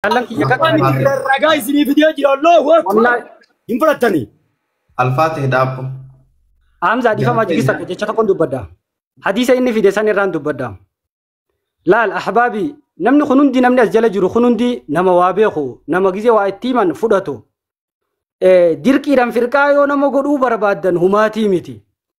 Jaallan kiyya Abbaan kakkaadha. Alfaa ta'e. ragaa isinii fidee jira Allahu Akbar. Wallahi Hin fudhattanii. Alfaa ta'e daabbo. Hamza dhifama Jaallan jigisa kiyya. jecha tokkon dubbadha. Hadiisa inni fide san irraan dubbadha. Laal ahbaabi namni kun hundi namni as jala jiru kun hundi nama waa beeku nama gizee waa itti himan fudhatu. Eh, Dirqiidhaan firqaa yoo nama godhuu barbaaddan humaatii miti.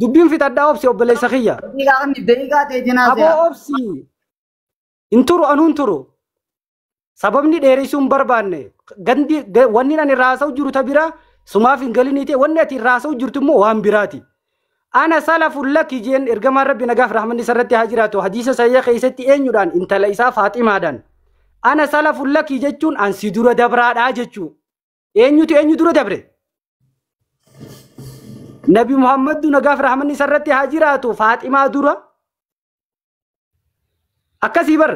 Dubbiin fixadhaa obsi obboleessa kiyya. Daqiiqaa kan daqiiqaa ta'e jenaa Aboo se'a. obsi hin turu anuu hin turu. Sababni dheeressuu hin barbaanne gandi ga- wanni ani irraa haasa'u jiru ta bira sumaaf hin galinii ta'e wanni ati irraa haasa'u jirtu immoo waan biraati. Ana salafun laki jeen ergamaan rabbi nagaaf rahmanni isarratti haa jiraatu hadiisa sahiha keessatti eenyudhaan intala isaa faaximaadhaan. Ana salafun laki jechuun an si dura dabraadhaa jechuu. Eenyutu eenyu dura dabre? Nabi Muhammadu nagaaf rahmanni isarratti haa jiraatu Faaximaa dura. Akkasii bar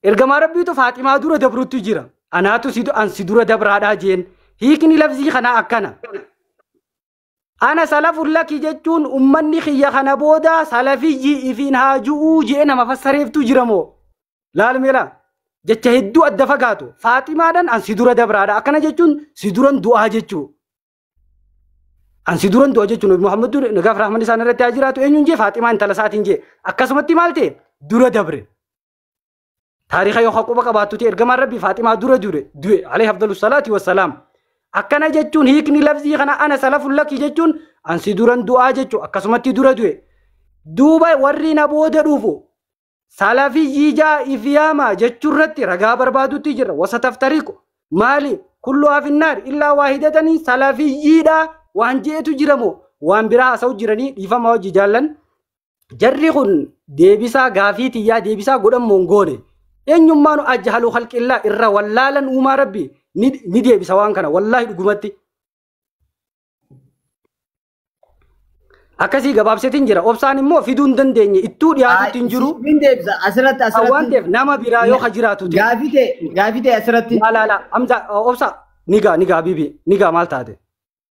ergamaa rabbiitu Faaximaa dura dabrutti jira. Anaatu si an si dura dabraadhaa jeen. Hiikni lafzii kanaa akkana. Ana salafun laki jechuun ummanni kiyya kana booda salafiyyi ifiin haa ju'uu je'e nama fassareeftuu jira moo? Laal mee laa. Jecha hedduu adda fagaatu. Faaximaadhan an si dura dabraadha. Akkana jechuun si duran du'aa jechuu. An si duran du'a jechuun Nabi Muhammadu nagaaf rahman isaan irratti haa jiraatu eenyuun jee Faaximaa intala isaatiin jee. Akkasumatti maal ta'e? Dura dabre. Taariika yoo quba qabaattuti ergamaan rabbi Faaximaa dura dure du'e alayhi afdalu salaati wassalaam. Akkana jechuun hiikni lafzii kana ana salafun laki jechuun ansi duran du'aa jechuu akkasumatti dura du'e. Duuba warri na booda dhufu salafiyyii jaa ifiyaama jechuurratti ragaa barbaadutti jirra wasa taftariiqu. Maali kullu afinnaar illaa waahidatanii salafiyyiidha waan jeetu jiramoo waan biraa haasa'u jiranii dhiifama hojii jaallan. Jarri kun deebisaa gaafii tiyyaa deebisaa godhan moo hin goone. Eenyummaan ajjahaluu halqillaa irra wallaalan uumaa rabbi ni ni deebisa waan kana wallaahi dhugumatti. Akkasii gabaabsetiin jira. Obsaan immoo fiduu hin dandeenye ittuu dhiyaatutti hin jiru. Siin deebisa asirratti Kan waan asirratti ta'eef nama biraa yoo ka jiraatu ta'e. gaafii ta'e gaafii ta'e asirratti Laa laa laa amza obsa ni gaa ni gaa bibi ni gaa maal taate.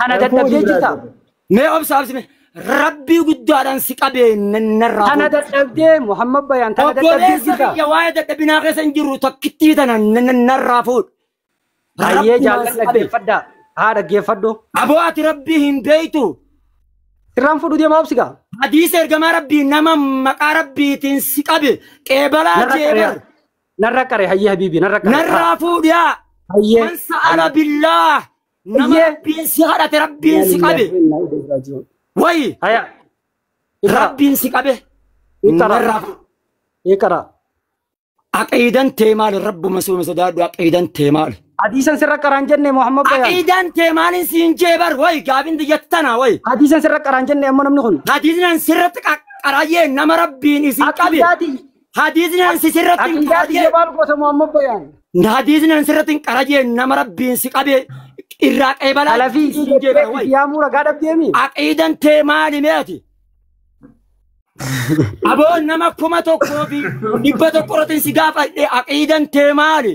Kana Rakkoo dadhabdee hojii biraa jirta. jira. Mee obsa obsi mee. Rabbii guddaadhaan si qabee narraa Kana fuudhu. dadhabdee Muhammad Bayaan kana dadhabdee Obboleessa jirta. kiyya waa'ee dadhabinaa keessa hin jiru tokkittii tana n- n- narraa fuudhu. Baay'ee Rabbumaan jaallan si qabee. dhaggeeffadhaa. Haa dhaggeeffadhu. Aboo ati rabbii hin beektu. Sirraan fudhu deemaa obsi gaa. Hadiisa ergamaa rabbii nama maqaa rabbiitiin si qabe qeebalaa Narra qaree. jeebar Narra qaree hayyee habiibii narra qaree. narraa fuudhaa. Hayyee. Man sa'ala billaah nama Iyyee. rabbiin si kadhate rabbiin si qabe wayi Haya. Ikra. rabbiin si qabe Ikra. narraa fuudhu. Ikra. aqiidan tee maali rabbuma soome sodaadhu aqiidan tee maali Hadiisan sirra qaraan jenne Muhammad Bayaan. aqiidan tee maaliin siin jee bar wayi gaafin diyyatana wayi Hadiisan sirra qaraan jenne amma namni kun. hadiisnan sirratti qaqqaraayyee nama rabbiin isin qabe Aqiidaati. Hadiisni an si sirratti hin Aqiidaa qarajee. biyya baal goota Muhammad Bayaan. Hadiisni an sirratti hin qarajee nama rabbiin si qabee irraa qeebalaa Salafii hin jeebi'a jettee wayi. yaamuu ragaa dhabdeemi. Aqiidan tee maali mee ati? Aboo nama kuma tokkoo fi dhibba tokko irratti si gaafadhe aqiidan tee maali?